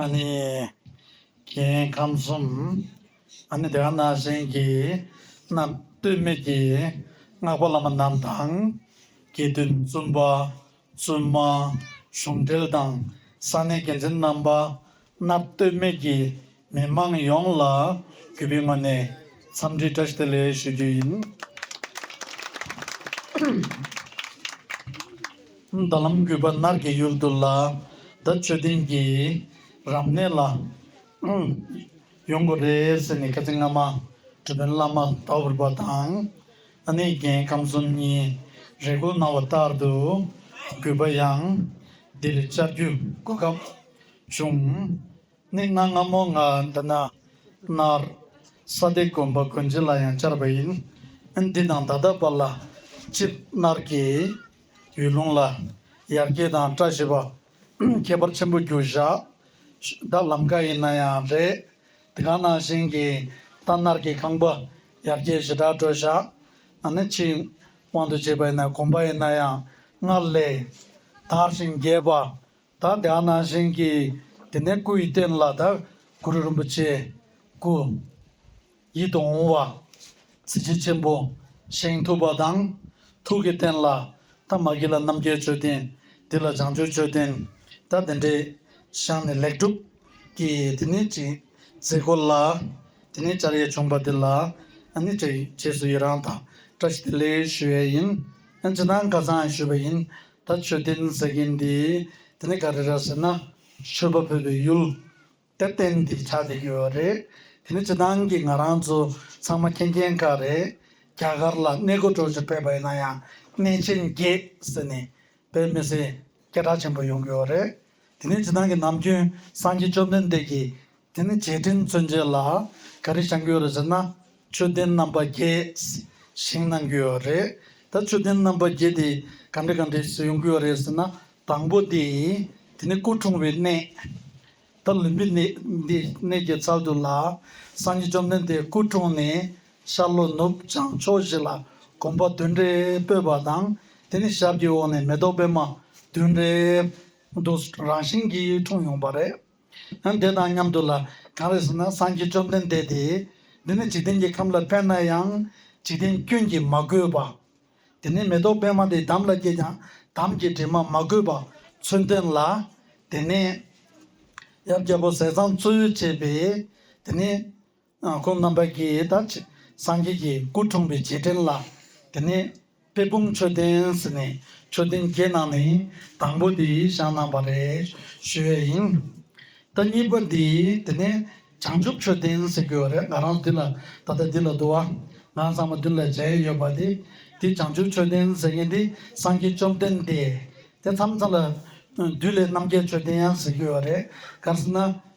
ཨཱ་ནི། གྱིས་ཁམས་གསུམ། ཨཱ་ནི་དེ་ཁ་ན་བཞིན་གྱིས་རྣམས། སྟོད་སྨད་ཀྱི་སྔགས་པ་བླ་མ་རྣམས་དང། དགེ་འདུན་བཙུན་པ་བཙུན་མ་གཞུང་འབྲེལ་དང་ས་གནས་འགན་འཛིན་རྣམ་པ་རྣམས་སྟོད་སྨད་ཀྱི་མི་མང་ཡོངས་ལ་གུས་པའི་ངོས་ནས་འཚམས་འདྲི་བཀྲ་ཤིས་བདེ་ལེགས་ཞུ་རྒྱུ་ཡིན། མདའ་ལམ་རྒུད་པ་ནགས་ཀྱི་ཡུལ་དུ་ལ་མདའ་མཆོད་རྟེན་གྱི་རབ་གནས་ལ་ཡོང་དགོས་རེད་ཟེར་ནས་བཀའ་སྤྱི་སྔ་མ་གྲུ་དཔོན་བླ་མ་དྭོགས་བུར་པ་དང་ཨ་ནེ་རྒྱལ་ཁམས་གསུམ་གཉིས་རེ་སྐུལ་གནང་བ་ལྟར་དུ་རྒུད་པ་ཡང་འདིར་བཅར་རྒྱུ་དགོས་སྐབས་བྱུང། གནས་སྔ་སྔ་མོ་ང་འདི་ན་མནར་ས་སྟེ་དགོན་པ་དགོན་སྤྱི་ལ་ཡང་བཅར་བ་ཡིན། འདི་དང་ད་ལྟ་བར་ལ་སྤྱིར་མནར་གྱི། ཡུལ་ལུང་ལ་ཡར་རྒྱས་དང་བཀྲ་ཤིས་པ། ཁྱད་པར་ཆེན་པོ་རྒྱུ་བཞག་ད་ལམ་ཀ་ཡིན་ན་ཡང་རེད། དེ་ག་ནང་བཞིན་གྱི་རྟ་རྣར་གྱི་ཁང་པ་ཡར་རྒྱས་ཞེ་དྲག་སྤྲོད་བཞག་ན་ནི་ཕྱི་དབང་དུ་བྱས་པ་ཡིན་ན་གོམས་པ་ཡིན་ན་ཡང་སྔར་ལས་དར་ཞིང་རྒྱས་པ་ད་འདི་ཨ་ན་བཞེངས་ཀྱི་དེ་ནས་སྐུ་ཡི་རྟེན་ལ་དར་གུ་རུ་རིན་པོ་ཆེ་སྐུ་ཡི་དུང་བ་གཟི་བརྗིད་ཆེན་པོ་བཞེངས་ཐུབ་པ་དང། ཐུགས་ཀྱི་རྟེན་ལ་ད་མ་གི་ལ་རྣམ་རྒྱལ་མཆོད་རྟེན་འདི་ལ་བྱང་ཆུབ་མཆོད་རྟེན་ད་འདི་འདྲས་བཞེངས་ནས་ལེགས་གྲུབ་ཀྱི་དེ་ནས་ཅི་ཟེར་གོ་ལ་དེ་ནས་བཅར་ཡས་བྱུང་བ་དེ་ལ་ནི་བཅས་བཅས་སུ་ཡི་རང་དང་བཀྲ་ཤིས་བདེ་ལེགས་ཞུ་ཡས་ཡིན་ཅི་ན་འགའ་ཚང་ཞུས་པ་ཡིན་ད་མཆོད་རྟེན་ཟེར་མཁན་འདི་དེ་ནི་ག་རེ་རེད་ཟེར་ན་ཆོས་པ་ཕུད་པའི་ཡུལ་དེར་རྟེན་འདི་ཆགས་བསྡད་ཡོད་པ་རེད། དེ་ནི་སྤྱི་སྣང་གི་ང་རང་ཚོ་ཚང་མ་མཁྱེན་མཁྱེན་དཀའ་རེད། རྒྱ་གར་ལ་གནས་སྒོ་དྲོ་ཞིག་ཕེབས་པ་ཡིན་ན་ཡང་གནས་ཆེན་བརྒྱད་ཟེར་ནས་བོད་མི་སེར་སྐད་གྲགས་ཆེན་པོ་ཡོང་གི་ཡོད་རེད། དེ་ནི་སྤྱི་སྣང་གི་ནམ་རྒྱུན་སངས་རྒྱས་བཅོམ་ལྡན་འདས་ཀྱི་དེ་ནས་རྗེས་དྲན་མཚོན་བྱེད་ལ་ག་རེ་བྱ་འགྱོ་རེད་ཟེར་ན་མཆོད་རྟེན་རྣམ་པ་བརྒྱད་བཞེངས་གནང་གྱི་ཡོད་རེད་ད་མཆོད་རྟེན་རྣམ་པ་བརྒྱད་དེ་ག་འདྲ་ག་འདྲས་སུ་ཡོང་གི་ཡོད་རེད་ཟེར་ན་དང་པོ་དེ་དེ་ནི་སྐུ་འཁྲུངས་བའི་གནས་ད་ལུས་པའི་གནས་འདི་གནས་ཀྱི་ཚབ་ཏུ་ལ་སངས་རྒྱས་བཅོམ་ལྡན་འདས་སྐུ་འཁྲུངས་ནས་ཤར་ལྷོ་ནུབ་བྱང་ཕྱོགས་བཞི་ལ་གོམ་པ་བདུན་རེ་སྤོས་པ་དང་དེ་ནས་ཞབས་ཀྱི་འོག་ནས་མེ་ཏོག་པད་མ་བདུན་རེ་འདུག་རང་བཞིན་གྱིས་འཁྲུངས་ཡོང་བ་རེད། ཡང་དེ་དང་མཉམ་དུ་ལ་གང་རེ་ཟུང་ན་སངས་རྒྱས་བཅོམ་ལྡན་འདས་དེས་འདི་ནི་འཇིག་རྟེན་གྱི་ཁམས་ལ་བས་ན་ཡང་འཇིག་རྟེན་སྐྱོན་གྱིས་མ་གོས་པ། དེ་ནས་མེ་ཏོག་པད་མ་དེ་དམ་ལ་སྐྱེས་ཀྱང་དམ་གྱི་དྲི་མ་མ་གོས་པ་ཚུལ་སྟོན་ལ། དེ་ནས་ཡབ་རྒྱལ་པོ་ཟས་གཙང་བཙོ་ཡུར་བྱས་པས་དེ་ནི། ཁོང་རྣམ་པ་ཀྱིས་ད་ཆེ་སངས་རྒྱས་ཀྱི་སྐུ་འཁྲུངས་པའི་རྗེས་དྲན་ལ་དེ་ནས་དཔལ་སྤུངས་མཆོད་རྟེན་ཟེར་ནས་མཆོད་རྟེན་བརྒྱད་ནང་ནས་དང་པོ་དེ་བཞེངས་གནང་བ་རེད་ཞུས་ཡས་ཡིན། ད་གཉིས་པ་འདི་དེ་ནས་བྱང་ཆུབ་མཆོད་རྟེན་ཟེར་གྱི་ཡོད་རེད་ང་རང་འདི་ལ་ད་ལྟ་འདི་ལ་འདུག་ང་ཚང་མ་མདུན་ལ་མཇལ་ཡས་ཡོད་པ་དེ་འདི་བྱང་ཆུབ་མཆོད་རྟེན་ཟེར་མཁན་འདི་སངས་རྒྱས་བཅོམ་ལྡན་འདས་དེ་མཚམས་ཚང་ལ་བདུད་ལས་རྣམ་རྒྱལ་མཆོད་རྟེན་ཡང་ཟེར་གྱི་ཡོད་རེད་ག་ཟེར་ན།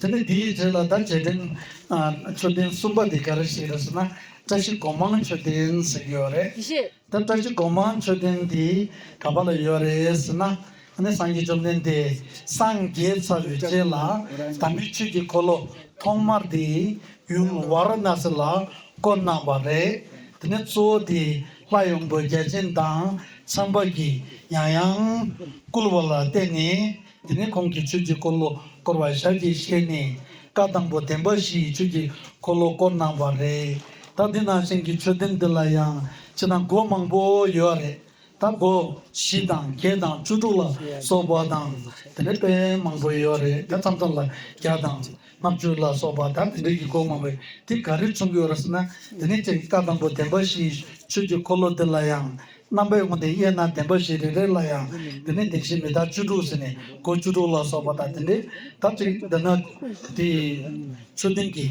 དེ་ནས་དེའི་རྗེས་ལ་ད་རྗེས་དྲན་མཆོད་རྟེན་གསུམ་པ་དེ་ག་རེ་ཞིག་རེད་ཟེར་ན་བཀྲ་ཤིས་སྒོ་མང་མཆོད་རྟེན་ཟེར་གྱི་ཡོད་རེད། ད་བཀྲ་ཤིས་སྒོ་མང་མཆོད་རྟེན་དེ་ག་པ་ལ་ཡོད་རེད་ཟེར་ན་ནི་སངས་རྒྱས་བཅོམ་ལྡན་འདས་སངས་རྒྱས་ཚར་བའི་རྗེས་ལ་དམ་པའི་ཆོས་ཀྱི་འཁོར་ལོ་ཐོག་མར་དེ་ཡུམ་ཝར་ན་སི་ལ་བསྐོར་གནང་བ་རེད། དེ་ནས་གཙོ་བོ་དེ་ལྷ་ཡོངས་པོའི་རྒྱལ་ཆེན་དང་མཚན་པ་གྱིས་ཡང་ཡང་བསྐུལ་བ་ལ་བརྟེན་ནས། དེ་ནས་ཁོང་གིས་ཆོས་ཀྱི་འཁོར་ལོ་བསྐོར་བར་བྱ་རྒྱུ་བཤད་ནས་བཀའ་དང་པོ་བདེན་པ་བཞི་ཡི་ཆོས་ཀྱི་འཁོར་ལོ་བསྐོར་གནང་བ་རེད། ད་འདི་ནང་བཞིན་གྱི་མཆོད་རྟེན་འདི་ལ་ཡང་སྤྱིར་ན་སྒོ་མང་པོ་ཡོད་ར་རེད། ད་སྒོ་བཞི་དང་བརྒྱད་དང་བཅུ་དྲུག་ལ་སོགས་པ་དང་དེ་འདྲའི་དཔེ་མང་པོ་ཡོད་རེད་དེ་ཙམ་ཙམ་ལ་བརྒྱ་དང་ལྔ་བཅུ་ལ་སོགས་པ་ད་དེ་འདྲའི་གི་སྒོ་མང་པོའི་དེ་ག་རེ་མཚུངས་ཀྱི་ཡོད་ར་ཟེར་ན་དེ་ནས་ཁྱེད་ཀྱི་བཀའ་དང་པོ་བདེན་པ་བཞི་ཡི་ཆོས་ཀྱི་འཁོར་ལོ་འདི་ལ་ཡང་རྣམ་པའི་དབང་དེ་དབྱེ་ན་བདེན་པ་བཞི་རེ་རེ་ལ་ཡང་དེ་ནས་བདེན་བཞི་མི་རྟག་བཅུ་དྲུག་ཟེར་ནས་སྒོ་བཅུ་དྲུག་ལ་སོགས་པ་དང་དེ་འདྲའི་དག་ཅིག་འདོད་ན། དེ་ཡི་མཆོད་རྟེན་གྱི་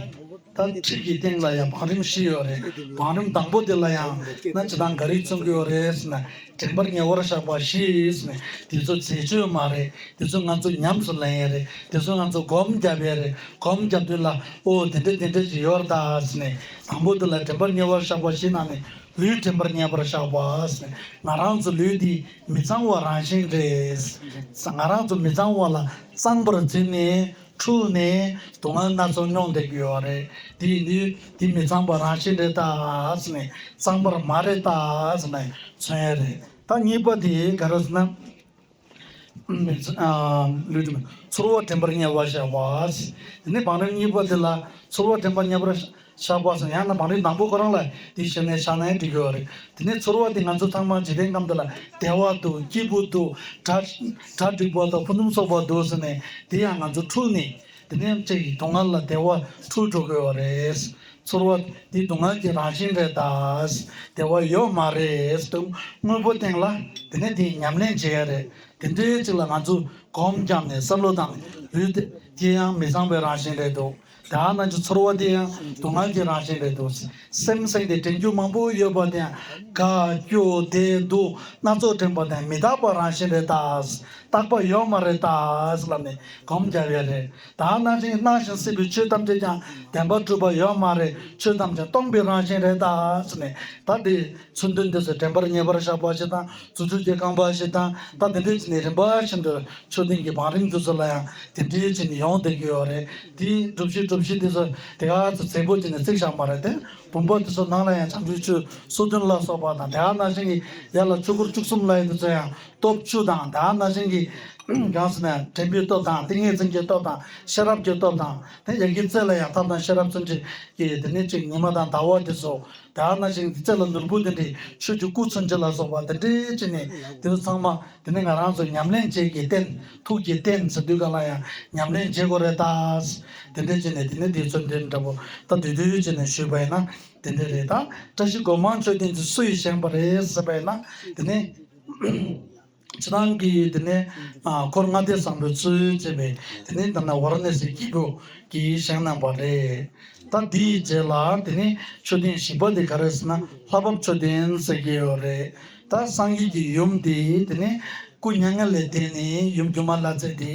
དག་ཁྲིད་ཀྱི་སྟེང་ལ་ཡང་བང་རིམ་བཞི་ཡོད་རེད། བང་རིམ་དང་པོ་དེ་ལ་ཡང་ན་ཇི་ལྟར་འགའ་རེས་མཚོན་གྱི་ཡོད་རེད་ཟེར་ན་དྲན་པར་ཉེ་བར་བཞག་པ་ཞིག་ནི་དེ་ཚོ་འཛད་སྤྱོད་མ་རེད་དེ་ཚོ་ང་ཚོ་ཉམས་སུ་ལེན་ཡས་རེད་དེ་ཚོ་ང་ཚོ་སྒོམ་རྒྱབ་ཡས་རེད་སྒོམ་རྒྱབ་དུས་ལ་ཨོ་དེ་འདྲ་དེ་འདྲ་ཞིག་ཡོད་རེད་ད་ཟེར་ནས་དང་པོ་དེ་ལ་དྲན་པར་ཉེ་བར་བཞག་པ་ཞིག་ན་ནི་ལུས་དྲན་པར་ཉན་པར་བཞག་པ། ང་རང་ཚོའི་ལུས་འདི་མི་གཙང་བ་རང་བཞིན་རེད། ང་རང་ཚོ་མི་གཙང་བ་ལ་གཙང་པར་བརྩིས་ནས་འཁྲུལ་ནས་སྡུག་བསྔལ་སྣ་ཚོགས་མྱོང་བསྡད་ཀྱི་ཡོད་རེད། དེ་ཡིན་དུས་དེ་མི་གཙང་བ་རང་བཞིན་རེད་ད། གཙང་པར་མ་རེད་ད། མཚོན་ཡ་རེད། ད་གཉིས་པ་དེ་ག་རེད་ཟེར་ན། ཚོར་བ་དྲན་པར་དམྱལ་བར་བཞག་པ། དེ་ནས་བང་རིམ་གཉིས་པ་དེ་ལ་ཚོར་བ་དྲན་པར་དམྱལ་བར་བཞག་པ་སོགས་ཡང་ན་བང་རིམ་དང་པོ་ཁོ་རང་ལ་དེའི་ཞབས་ནས་ཕྱག་ན་ཡང་འགྲིག་གི་རེད། དེ་ནས་ཚོར་བ་དེ་ང་ཚོ་ཚང་མ་ཇི་ལྟའི་ཁམས་འདི་ལ་བདེ་བ་འདུག་སྐྱིད་པོ་འདུག་གྲ་འགྲིག་པ་དང་ཕུ་ནུམ་སོགས་པ་འདུག་ཟེར་ནས་དེ་ཡང་ང་ཚོ་འཁྲུགས་ནས་དེ་ནས་ལྕེ་ཡིས་སྡུག་བསྔལ་ལ་བདེ་བ་འཁྲུ་འགྲོ་དགོས་བ་རེད། ཚོར་བ་འདི་སྡུག་བསྔལ་གྱི་རང་བཞིན་རེད་ད། བདེ་བ་ཡོད་མ་རེད་དུ་དངོས་པོ་སྟེང་ལ་དེ་ནས་དེའི་ཉམས་ལེན་བྱེད་ཡ་རེད། དེ་འདྲའི་ཚིག་ལ་ང་ཚོས་གོམ་བརྒྱབ་ནས་བསམ་བློ་དང་ལུས་དེ་ལྕེ་ཡང་མི་བཟང་བའི་རང་བཞིན་རེད་འདུག་དེ་ཡང་ན་ཆུ་ཚོར་བ་དེ་ཡང་སྡུག་བསྔལ་གྱི་རང་བཞིན་རེད་འདུག། སེམས་སེམས་ཏེ་དྲན་རྒྱུ་མང་པོ་ཡོད་པ་དེའང་དགའ་སྐྱོ་བདེ་སྡུག་སྣ་ཚོགས་དྲན་པ་དེའང་མི་རྟག་པ་རང་བཞིན་རེད་དཱ། རྟག་པ་ཡོད་མ་རེད་དཱ་ལབ་ནས་གོམས་རྒྱབ་ཡོད་རེད་དཱ། སྣང་ཞིང་སྣང་ཞིང་སྲིད་པའི་ཆོས་ཐམས་ཅད་ཀྱང་བདེན་པར་གྲུབ་པ་ཡོད་མ་རེད་ཆོས་ཐམས་ཅད་སྟོང་པའི་རང་བཞིན་རེད་དཱ་ཟེར་ནས་ད་དེ་ཚུལ་འདི་འདི་ཚོ་དྲན་པར་ངེས་པར་བཞག་པ་ཞིག་དང་རྫུ་འཕྲུལ་གྱི་རྐང་པ་ཞིག་དང་ད་དེ་འདྲའི་ཚེ་ནི་རིམ་པ་བཞིན་དུ་ཆོས་ལྡན་གྱི་བང་རིམ་དེ་ཚོ་ལ་ཡང་དེ་འདྲའི་ཚེ་ནི་ཡོང་བསྡད་ཀྱི་ཡོད་རེད་དེའི་སྒྲུབ་གཞི་སྒྲུབ་གཞི་དེ་ཚོ་དེ་ག་ཚོ་རྫས་སྒོ་བྱས་ནས་བརྩིགས་བཞག་མ་རེད་དེ་བུམ་པ་དེ་ཚོ་ནང་ལ་ཡང་ཆང་ཆུའི་ཆུ་སོ་བདུན་ལ་སོགས་པ་དང་དེ་ག་ན་བཞིན་གྱི་ཡར་ལ་ཆུ་འཁོར་བཅུ་གསུམ་ལ་ཡོད་དེ་ཚོ་ཡང་སྟོབས་བཅུ་དང་དེ་ག་ན་བཞིན་གྱི་གང་ཟེར་ན་དྲན་པའི་སྟོབས་དང་ཏིང་ངེ་འཛིན་གྱི་སྟོབས་དང་ཤེས་རབ་ཀྱི་སྟོབས་དང་དེ་ཡར་གྱི་རྩེ་ལ་ཡང་ཐབས་དང་ཤེས་རབ་བརྩོན་འགྲུས་ཀྱི་དེ་ནི་གཅིག་ཉི་མ་དང་ཟླ་བ་དེ་ཚོ། དག་ན་ཞིང་འདི་ཚད་ལ་ལུས་པོ་འདི་འདྲའི་ཆོས་ཀྱི་སྐུ་མཚོན་བྱེད་ལ་སོགས་པ་འདི་འདྲའི་ཕྱི་ནས་དེ་ཚོ་ཚང་མ་དེ་ནི་ང་རང་ཚོ་ཉམས་ལེན་བྱེད་ཀྱི་རྟེན་ཐུགས་ཀྱི་རྟེན་ཟེར་དུས་གང་ལ་ཡང་ཉམས་ལེན་བྱེད་དགོས་རེད་དཱ། དེ་འདྲའི་ཕྱི་ནས་དེ་ནི་དེའི་མཚོན་དོན་འདྲ་པོ་ད་དུས་དེའི་ཕྱི་ནས་ཞུས་པ་ཡིན་ན་དེ་འདྲས་རེད་དཱ། བཀྲ་ཤིས་སྒོ་མང་མཆོད་རྟེན་གྱི་སུ་ཡིས་བཞེངས་པ་རེད་ཟེར་པ་ཡིན་ན་དེ་ནི། ཚེ་རང་གིས་དེ་ནས་འཁོར་ལྔ་སྡེ་བཟང་པོའི་ཚུལ་བྱས་པས་དེ་ནི་ད་ནི་བར་ནས་ཟེར་གྱིས་སྒོ་ཀྱི་བཞེངས་གནང་བ་རེད། ད་འདིའི་རྗེས་ལ་དེ་ནི་མཆོད་རྟེན་བཞི་པ་དེ་ག་རེ་ཟེར་ན་ལྷ་བབས་མཆོད་རྟེན་ཟེར་གྱི་ཡོད་རེད། ད་སངས་རྒྱས་ཀྱི་ཡུམ་དེ་དེ་ནི་སྐུ་མྱ་ངན་ལས་འདས་ནས་ཡུམ་སྒྱུ་མ་ལྷ་རྫས་དེ་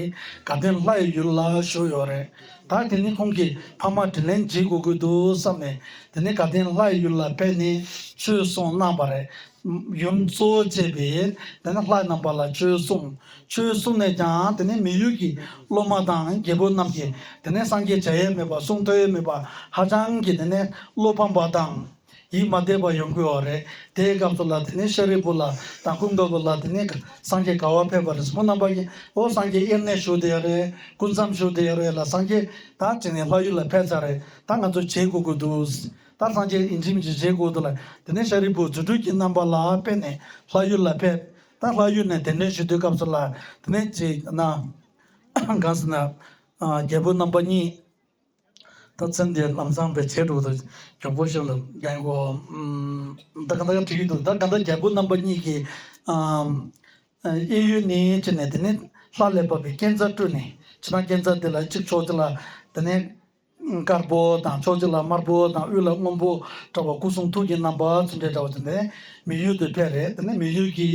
ག་སྟོན་ལྷ་ཡི་ཡུལ་ལ་བཞུགས་ཡོད་རེད། ད་དེ་ནི་ཁོང་གི་ཕ་མ་དྲིན་ལན་འཇལ་དགོས་ཀྱི་འདུག་བསམས་ནས་དེ་ནི་ག་སྟོན་ལྷ་ཡི་ཡུལ་ལ་བས་ནས་ཆོས་གསུངས་གནང་བ་རེད། ཡུམ་གཙོ་བོ་བཅས་པས་དེ་ནས་ལྷ་རྣམ་པ་ལ་ཆོས་གསུངས། ཆོས་གསུངས་ནས་ཀྱང་དེ་ནས་མི་ཡུལ་གྱི་སློབ་མ་དང་རྒྱལ་པོ་རྣམས་ཀྱིས་དེ་ནས་སངས་རྒྱས་བྱ་ཡས་མེད་པ་གསུང་ཐོས་ཡས་མེད་པ་ཧ་ཅང་གིས་དེ་ནས་བློ་ཕམ་པ་དང། ཡིད་མ་བདེ་བ་ཡོང་གི་འོ་རེད་དེའི་སྐབས་སུ་ལ་དེ་ནས་ཤཱ་རིའི་བུ་ལ་དང་ཀུན་དགའ་བོ་ལ་དེ་ནས་སངས་རྒྱས་ག་བ་ཕེབས་པ་རེད་སོ་མོ་རྣམ་པ་ཀྱིས་ཨོ་སངས་རྒྱས་དབྱེར་གནས་ཞུགས་དེ་ཡོད་རེད་སྐུ་མཚམས་ཞུགས་དེ་ཡོད་རེད་ལ་སངས་རྒྱས་ད་དྲིས་ནས་ལྷ་ཡུལ་ལ་ཕེབས་ཚར་རེད་ད་ང་ཚོ་བྱེད་དགོས་ཀྱི་འདུག། ལྟར་སངས་རྒྱས་ཨིན་ཇིམ་གྱི་བཞེད་དགུ་དུ་ལ་དེ་ནས་ཤཱ་རིའི་བུ་རྫུ་འཕྲུལ་གྱི་རྣམ་པ་ལ་སྤེལ་ནས་ལྷ་ཡུལ་ལ་ཕེབས། ད་ལྷ་ཡུལ་ནས་དད་འདུན་ཞུ་དུས་སྐབས་སུ་ལ་དེ་ནས་ཅིག་ན། གང་ཟེར་ན། རྒྱལ་པོའི་རྣམ་པ་གཉིས། ད་ཚེ་འདིར་ལམ་ཚངས་པའི་བྱེ་བྲུག་ཏུ་གྱོང་པོ་ཤིན་ཏུ་འགེངས་གོ། ད་ག་ད་ག་བྲིས་འདུག་ད་ག་ད་རྒྱལ་པོའི་རྣམ་པ་གཉིས་ཀྱིས། གཡས་གཡོན་ནས་ཅིག་ནས་དེ་ནས་ལྷ་ལས་བབས་པའི་རྐྱེན་རྩ་བཀྲུས་ནས་ཅི་ན་རྐྱེན་རྩ་དེ་ལ་ཅིག་ཕྱོགས་དེ་ལ་དེ་ནས། དཀར་པོ་དང་ཕྱོགས་བཞི་ལ་དམར་པོ་དང་དབུས་ལ་སྔོན་པོ་འདྲ་བ་སྐུ་གསུང་ཐུགས་ཀྱི་རྣམ་པ་ཚུར་འདྲེས་འདྲ་བ་དེ་ནི་མི་ཡུལ་དུ་ཕེབས་རེ་དེ་ནི་མི་ཡུལ་གྱི་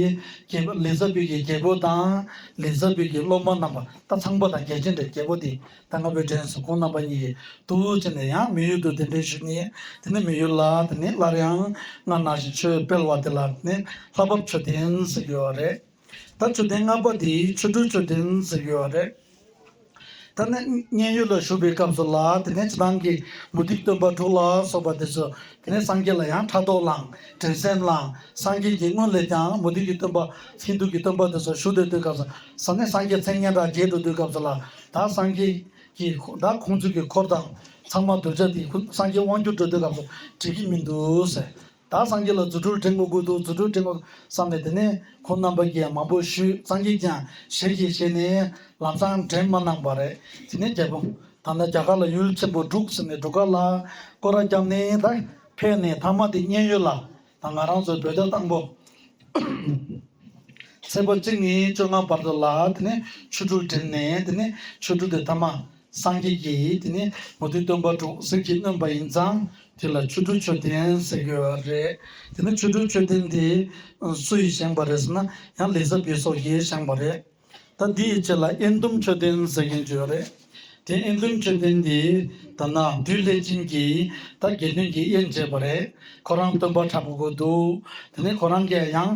རྒྱལ་པོ་ལི་ཛ་བུད་ཀྱི་རྒྱལ་པོ་དང་ལི་ཛ་བུད་ཀྱི་སློབ་མ་རྣམས་པ་ད་ཚངས་པོ་དང་རྒྱལ་ཆེན་འདྲའི་རྒྱལ་པོ་དེ་ད་སྔ་བོད་འདྲེན་སོ་ཁོང་རྣམ་པ་གཉིས་ཀྱིས་ཏུ་བྱས་ནས་ཡང་མི་ཡུལ་དུ་གདན་འདྲེན་ཞུས་ནས་དེ་ནི་མི་ཡུལ་ལ་དེ་ནི་སླར་ཡང་སྔར་ནང་བཞིན་ཆོས་སྤེལ་བ་དེ་ལ་དེ་ནི་ལྷ་བབས་མཆོད་རྟེན་ཟེར་གྱི་ཡོད་རེད། ད་མཆོད་རྟེན་སྔགས་པ་དེའི་ཆོ་འཕྲུལ་མཆོད་རྟེན་ཟེར་ཡོད་རེད། ད་ནི་མཉན་ཡོད་ལ་བཞུགས་པའི་སྐབས་སུ་ལ་དེ་ནས་ཇི་ལྟང་གི་མུ་སྟེགས་སྟོན་པ་དྲུག་ལ་སོགས་པ་དེ་ཚོས་དེ་ནས་སངས་རྒྱས་ལ་ཡང་ཕྲག་དོག་བསླངས་དྲན་སེམས་བསླངས་སངས་རྒྱས་ཀྱི་སྔོན་ལས་ཀྱང་མུ་སྟེགས་ཀྱི་སྟོན་པ་ཧིན་དུ་ཀྱི་སྟོན་པ་དེ་ཚོ་བཞུགས་སྡོད་དུས་སྐབས་སུ་ས་གནས་སངས་རྒྱས་མཚན་སྙན་གྲགས་རྒྱས་འགྲོ་དུས་སྐབས་སུ་ལ་དྭགས་སངས་རྒྱས་ཀྱི་དྭགས་ཁོང་ཚུལ་གྱི་འཁོར་དང་ཚང་མ་གདུལ་བྱ་དེ་སངས་རྒྱས་དབང་བསྒྱུར་འགྲོ་དུས་སྐབས་སུ་བྲིས་ཀྱི་མི་འདུག་ཟེར། བདག་སངས་རྒྱས་ལ་རྫུ་འཕྲུལ་སྤྲིན་དགུ་དགོས་འདུག་རྫུ་འཕྲུལ་སྤྲིན་དགུ་བསམ་པས་དེ་ནས་ཁོང་རྣམ་པ་རྒྱས་མང་པོ་ཞུས་སངས་རྒྱས་ཀྱང་ཞལ་གྱིས་བཞེས་ནས་ལམ་སང་འདྲེན་མ་གནང་བ་རེད་དེ་ནས་རྒྱལ་པོ་ད་ལྟ་རྒྱ་གར་ལ་ཡུལ་ཆེན་པོ་འབྲུག་ཟེར་ནས་འབྲུག་དཀར་ལ་སྐོར་ར་བརྒྱབ་ནས་ད་ཕེབས་ནས་མཐའ་མ་དེ་མཉན་ཡོད་ལ་ད་ང་རང་ཚོའི་བོད་ཟླ་དང་པོ་ཚེས་པ་གཅིག་ནས་བཅོ་ལྔ་བར་དུ་ལ་དེ་ནས་ཆོས་དྲུག་འགྲིམས་ནས་དེ་ནས་ཆོས་དྲུག་དེ་མཐའ་མ། སངས་རྒྱས་ཀྱིས་དེ་ནི་མུ་ཏིག་སྟོན་པ་དྲུག་གསེར་གྱིས་བསྣུན་པ་ཡིན་ཙང་དེ་ལ་ཆོ་འཕྲུལ་མཆོད་རྟེན་ཟེར་དགོས་པ་རེད། དེ་ནི་ཆོ་འཕྲུལ་མཆོད་རྟེན་དེ་སུ་ཡིས་བཞེངས་པ་རེད་ཟེར་ན་ཡང་ལི་ཟ་བི་སོགས་ཀྱིས་བཞེངས་པ་རེད། ད་འདི་ཡི་ཆེད་ལ་ཨེ་འདུམ་མཆོད་རྟེན་ཟེར་མཁན་བྱུས་རེད། དེ་ཨེ་འདུམ་མཆོད་རྟེན་དེ་ད་ནག་སྦྲུལ་ལྷས་བྱིན་གྱིས་ད་དགེ་འདུན་གྱིས་དབྱེན་བྱས་པ་རེད་ཁོ་རང་སྟོན་པ་དྲག་པོ་དགོས་འདུག་དེ་ནི་ཁོ་རང་གིས་ཡང།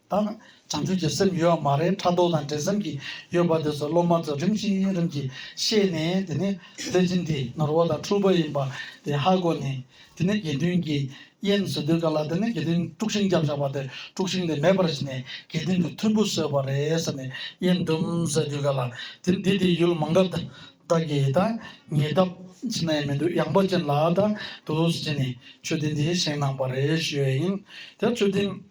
དང། བྱང་ཆུབ་ཀྱི་སེམས་ཡོད་མ་རེད་ཕྲག་དོག་དང་འབྲེལ་ཟམ་གྱི་ཡོད་པ་དེ་ཚོ་སློབ་མ་ཚོ་རིམ་བཞིན་རིམ་གྱིས་ཤེས་ནས་དེ་ནས་བློན་ཆེན་དེ་ནོར་བ་དང་འཁྲུལ་པ་ཡིན་པ་དེ་ཧ་གོ་ནས་དེ་ནས་དགེ་འདུན་གྱི་དབྱེན་བཟོ་འདོད་ག་ལ་དེ་ནས་དགེ་འདུན་དཀྲུགས་ཤིང་རྒྱབ་བཞག་པ་དེ་དཀྲུགས་ཤིང་དེ་མེད་པར་བྱས་ནས་དགེ་འདུན་གྱི་ཐུམ་བུ་བཟོས་པ་རེད་ཟེར་ནས་དབྱེན་བསྡུམ་བཟོས་དུས་ག་ལ་དེ་འདི་དེ་ཡུལ་མང་ག་ད་གི་ད་ངས་བདག་ཅི་ན་ཡི་མི་འདུག་ཡངས་པ་ཅན་ལ་ད་འདུག་ཟེར་ནས་མཆོད་རྟེན་དེ་བཞེངས་གནང་པ་རེད་ཞུས་ཡིན་དེར་མཆོད་རྟེན།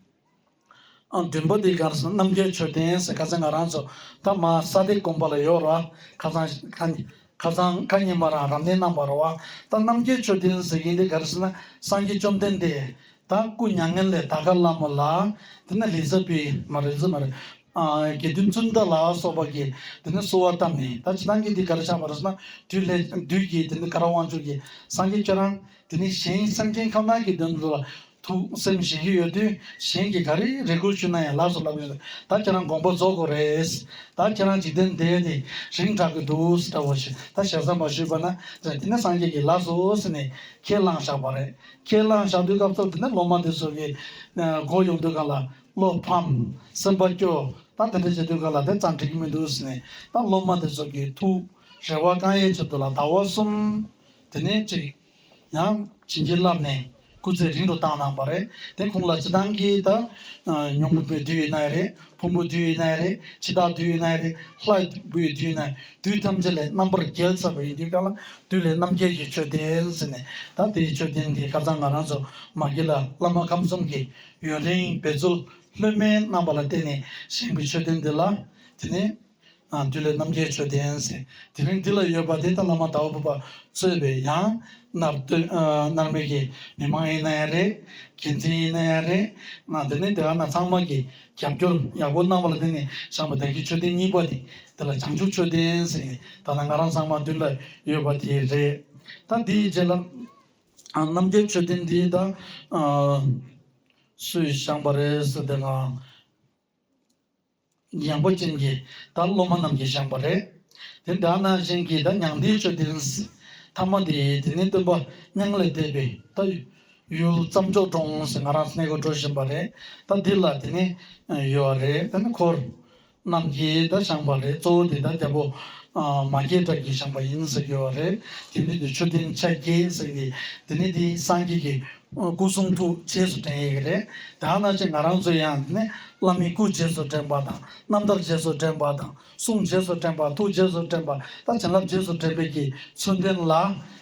མགྲིན་པ་འདི་གར་སོང་རྣམ་རྒྱལ་མཆོད་རྟེན་ཟེར་ག་ཚད་ང་རང་ཚོ་ད་མ་ས་སྡེ་དགོན་པ་ལ་ཡོད་ར་ཁ་ཚང་ཁ་ཚང་ཁ་ཉིན་པ་རང་རབ་གནས་རྣམ་པ་ར་བ་ད་རྣམ་རྒྱལ་མཆོད་རྟེན་ཟེར་གི་འདི་གར་སོང་ན་སངས་རྒྱས་བཅོམ་ལྡན་འདས་ད་སྐུ་མྱ་ངན་ལས་ད་ག་ལ་མོ་ལ་དེ་ནས་ལིས་ཛ་པི་མ་རེ་ཛི་མ་རེ་དགེ་འདུན་བཙུན་ད་ལ་སོགས་པ་གིས་དེ་ནས་གསོལ་བ་བཏབ་ནས་ད་ཇི་ལྟར་གྱི་འདི་གར་ཆགས་པ་ར་སོང་ན་དུས་ལྷས་བདུད་ཀྱིས་དེ་ནས་ག་ར་དབང་ཕྱུག་གིས་སངས་རྒྱས་ཁྱོད་རང་དེ་ནས་གཞན་སེམས་སྐྱེ་ཁམས་ནང་གི་དོན་དུ་ཐུགས་སེམས་ཞི་གི་ཡོད་དུས་གཞན་གྱིས་ག་རེ་རེ་སྒུག་བྱུང་ན་ཡང་ལགས་སོ་ལབ་ཡོང་ད་ཁྱེད་རང་དགོངས་པ་རྫོགས་དགོས་རེད། ད་ཁྱེད་རང་འཇིག་རྟེན་འདས་ནས་རིང་དྲག་གི་འདུག་འདྲ་བོ་ཞེས་ད་ཞལ་བཟང་པོ་ཞུས་པ་ན་ཟེར་དེ་ནས་སངས་རྒྱས་ཀྱིས་ལགས་སོ་ཟེར་ནས་ཁས་བླངས་བཞག་པ་རེད། ཁས་བླངས་བཞག་དུས་སྐབས་ཐོབ་དེ་ནས་ལོ་མང་དུས་ཚོད་ཀྱིས་འགོར་ཡོང་དུས་གང་ལ་བློ་ཕམ། སེམས་པ་སྐྱོ། ད་དེ་འདྲ་བྱས་དུས་གང་ལ་དེ་ཙམ་འགྲིག་གི་མི་འདུག་ཟེར་ནས་ད་སློབ་མ་དེ་ཚོ་གིས་ཐུགས་རེ་བ་རྐང་གཡས་ཚུལ་དུ་ལ་ཟླ་བ་གསུམ། དེ་ནས་ཅིག། ཡང་བྱིན་གྱིས་བརླབས་ནས་སྐུ་ཚེ་རིང་དུ་བཏང་གནང་བ་རེད། དེ་ཁོང་ལ་ཅི་ཐང་གིས་ད། ཉུང་བུ་པའི་དུས་ཡིན་ནའི་རེད། ཕུང་པོ་དུས་ཡིན་ནའི་རེད། འཆི་བདག་དུས་ཡིན་ནའི་རེད། ལྷ་དགུའི་དུས་ཡིན་ནའི། དུས་ཐམས་ཅད་ལས་རྣམ་པར་རྒྱལ་ཚར་བ་ཡིན་དུས་ག་ལ་དུས་ལས་རྣམ་རྒྱལ་གྱི་མཆོད་རྟེན་ཟེར་ནས་ད་དེའི་མཆོད་རྟེན་དེའི་ཁ་རྩང་ང་རང་ཚོ་མ་གི་ལ་བླ་མ་ཁམས་གསུམ་གྱི་ཡུན་རིང་འབད་རྩོལ་ལྷོད་མེད་གནང་བ་ལ་བརྟེན་ནས་བཞེངས་པའི་མཆོད་རྟེན་འདི་ལ་དེ་ནས། བདུད་ལས་རྣམ་རྒྱལ་མཆོད་རྟེན་གསལ། དེ་རིང་འདི་ལ་ཡོད་པ་དེ་དག་བླ་མ་དྭོགས་པོ་པ་གཙོས་པའི་ཡང། མནར་སྟོན་མནར་མེད་ཀྱི་མི་མང་ཡིན་ན་ཡང་རེད། དགེ་མཚན་ཡིན་ན་ཡང་རེད། འདི་ནས་དེ་ག་ན་ཚང་མ་གི་རྒྱབ་སྐྱོར་ཡག་པོ་གནང་བ་ལ་བརྟེན་ནས་བཤམས་པ་དག་གི་མཆོད་རྟེན་གཉིས་པ་དེ་དེ་ལ་བྱང་ཆུབ་མཆོད་རྟེན་ཟེར་ནས་ད་ལྟ་ང་རང་ཚང་མ་མདུན་ལ་ཡོད་པ་དེ་རེད། ད་དེའི་རྗེས་ལ། རྣམ་རྒྱལ་མཆོད་རྟེན་འདི་ད། སུས་བཤམས་པ་རེད་ཟེར་དེ་ལ། སྙིང་པོ་ཅན་གྱིས་ད་སློབ་མ་རྣམས་ཀྱིས་བཞེངས་པ་རེད། དེ་འདྲ་ན་གཞན་གྱིས་ད་མྱང་འདས་མཆོད་རྟེན་ཟེར་ཐ་མ་དེ་དེ་ནི་སྟོན་པ་མྱང་ལས་འདས་པའི་ད་ཡུལ་བརྩམས་ཆོས་གྲོང་ཟེར་ང་རང་གནས་གོ་འགྲོ་བཞིན་པ་རེད་ད་འདི་ལ་དེ་ནི་ཡོད་རེད་ད་ནི་འཁོར་རྣམས་ཀྱིས་ད་བཞེངས་པ་རེད་གཙོ་བོ་དེ་ད་རྒྱལ་པོ་མ་སྐྱེས་དགྲ་གྱིས་བཞེངས་པ་ཡིན་ཟེར་གྱི་ཡོད་རེད་དེ་འདི་དེ་མཆོད་རྟེན་ཆ་བརྒྱད་ཟེར་གྱི་དེ་ནི་དེ་སངས་རྒྱས་ཀྱི་སྐུ་གསུང་ཐུགས་རྗེས་སུ་དྲན་ཡི་གེ་རེད། དེའང་སྔ་ཕྱི་ང་རང་ཚོའི་ཡང་ནི། བླ་མའི་སྐུ་རྗེས་སུ་དྲན་པ་དང། རྣམ་ཐར་རྗེས་སུ་དྲན་པ་དང། གསུང་རྗེས་སུ་དྲན་པ་ཐུགས་རྗེས་སུ་དྲན་པ་དང་བྱིན་རླབས་རྗེས་སུ་དྲན་པའི་གྱི་ཚུལ་འདོན་ལ།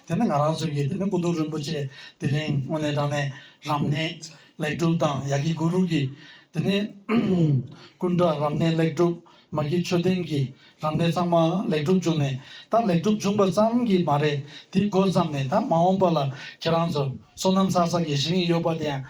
དེ་ནི་ང་རང་ཚོའི་གྱི་དེ་ནི་སྐུ་གདུང་རིན་པོ་ཆེ་དེ་རིང་དངོས་གནས་དྲང་གནས་རམ་གནས་ལེགས་གྲུབ་དང་ཡ་གི་གུ་རུ་གྱི་དེ་ནི། ཀུན་དགའ་རམ་གནས་ལེགས་གྲུབ་མ་གི་མཆོད་རྟེན་གྱི་རང་བདེན་ཚང་མ་ལེགས་གྲུབ་བྱུང་ནས་ད་ལེགས་གྲུབ་བྱུང་པ་ཙམ་གྱིས་མ་རེད་དེ་མགོ་བརྩམས་ནས་ད་མ་འོངས་པ་ལ་ཁྱེད་རང་ཚོ་སོ་ནམ་ཚགས་ཚགས་ཀྱི་ཞིང་ཡིག་ཡོད་པ་དེ་ཡང་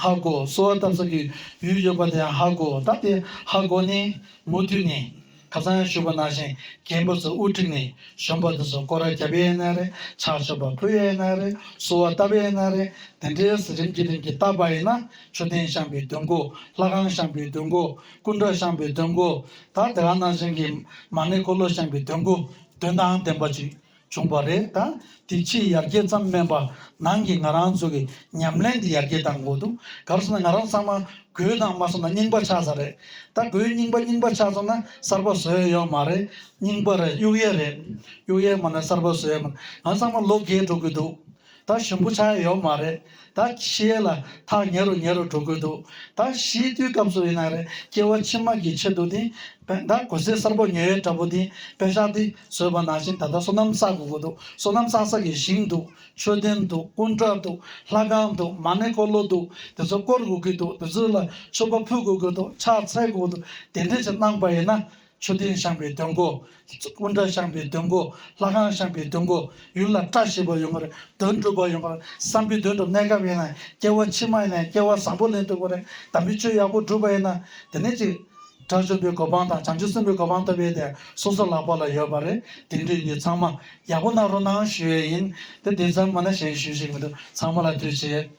ཧ་གོ་སོ་བ་བཏབ་ས་ཀྱི་ཡུལ་ཡོད་པ་དེ་ཡང་ཧ་གོ་ད་དེ་ཧ་གོ་ནས་མུ་མཐུད་ནས་ཁ་སང་ཡང་ཞུས་པ་ནང་བཞིན་རྒན་པོ་ཚོ་དབུ་ཁྲིད་ནས་གཞོན་པ་དེ་ཚོ་སྐོར་ར་རྒྱབ་ཡས་ན་རེད་ཆགས་ཆོག་པ་ཕུ་ཡས་ན་རེད་སོ་བ་བཏབ་ཡས་ན་རེད་དེ་འདྲས་རིམ་གྱིས་རིམ་གྱིས་བཏབ་པ་ཡིན་ན་མཆོད་རྟེན་བཤམས་པའི་དུས་མགོ་ལྷ་ཁང་བཤམས་པའི་དུས་མགོ། སྐུ་མདོག་བཤམས་པའི་དོན་གོ། ད་དེ་རང་སྣང་ཅན་གྱི་མ་ནི་འཁོར་ལོ་བཤམས་པའི་དོན་གོ། དོན་དང་ལྡན་པ་ཅིག་བྱུང་བ་རེད་ད། དེ་ཕྱིའི་ཡར་རྒྱས་ཙམ་སྨན་པ་ནང་གི་ང་རང་ཚོ་གི་ཉམས་ལེན་དེ་ཡར་རྒྱས་དང་གོ་འདུག་ག་རེ་བསམ་ན་ང་རང་ཚང་མ་གོས་དང་མ་བསམ་ན་རྙིང་པ་ཆགས་ས་རེད་ད་གོས་རྙིང་པ་རྙིང་པ་ཆགས་སོང་ན་གསར་པ་བཟོས་ཡོད་མ་རེད་རྙིང་པ་རེད་གཡུག་ཡས་རེད་གཡུག་ཡས་མ་ནས་གསར་པ་བཟོས་ཡོད་མ་རེད་ང་ཚང་མ་ལོ་རྒས་འགྲོ་གི་འདུག་ད་ཞིམ་པོ་ཆགས་ཡོད་མ་རེད་ད་ཕྱི་ཡས་ལ་ཐག་ཉེ་རུ་ཉེ་རུ་འགྲོ་དགོས་འདུག་ད་གཞིས་རྟུལ་སྐབས་སུ་ཡིན་ན་རེད་སྐྱེ་བ་ཕྱི་མ་གི་ཆེད་དུ་དེ་བས་ད་གོ་སའི་སར་པོ་ཉོས་ཡོད་འདྲ་པོ་དེ་བས་ཤག་དེ་བཟོས་པ་ནང་བཞིན་ད་ལྟ་སོ་ནམ་བསགས་དགོས་དགོས་འདུག་སོ་ནམ་བསགས་ས་གི་ཞིང་འདུག་མཆོད་རྟེན་འདུག་ཀུན་དགའ་འདུག་ལྷ་ཁང་འདུག་མ་ཎི་འཁོར་ལོ་འདུག་དེ་ཚོ་བསྐོར་དགོས་ཀྱི་འདུག་དེ་ཚོའི་ལ་མཆོད་པ་ཕུལ་དགོས་ཀྱི་འདུག་ཕྱག་འཚལ་དགོས་འདུག་དེ་འདྲས་ཅིག་གནང་པ་ཡིན་ན་མཆོད་རྟེན་བཤམས་པའི་དོན་གོ། དབུ་འདྲ་བཤམས་པའི་དོན་གོ། ལྷ་ཁང་བཤམས་པའི་དོན་གོ། ཡུལ་ལ་བཀྲ་ཤིས་པ་ཡོང་བར་དོན་གྲུབ་པ་ཡོང་བར་བསམ་པའི་དོན་དུ་གནས་སྐབས་ཡིན་ན་སྐྱེ་བ་ཕྱི་མ་ཡིན་ན་སྐྱེ་བ་བཟང་པོ་ལེན་འདུག་པ་རེད་དམ་པའི་ཆོས་ཡག་པོ་བསྒྲུབས་པ་ཡིན་ན་དེ་ནས་ཅིག། དགྲ་བཅོམ་པའི་གོ་འཕང་དང་བྱང་ཆུབ་སེམས་དཔའི་གོ་འཕང་ཐོབ་པའི་དེ་སོ་སོ་ལག་པ་ལ་ཡོད་པ་རེད་དེ་འདྲའི་ཡུལ་ཚང་མ་ཡག་པོ་གནང་རོགས་གནང་ཞུ་ཡས་ཡིན་དེ་དེ་ཙམ་མིན་ན་གཞན་ཞུ་ཞིག་མི་འདུག་ཚང་མ་ལ་དུས་བྱས།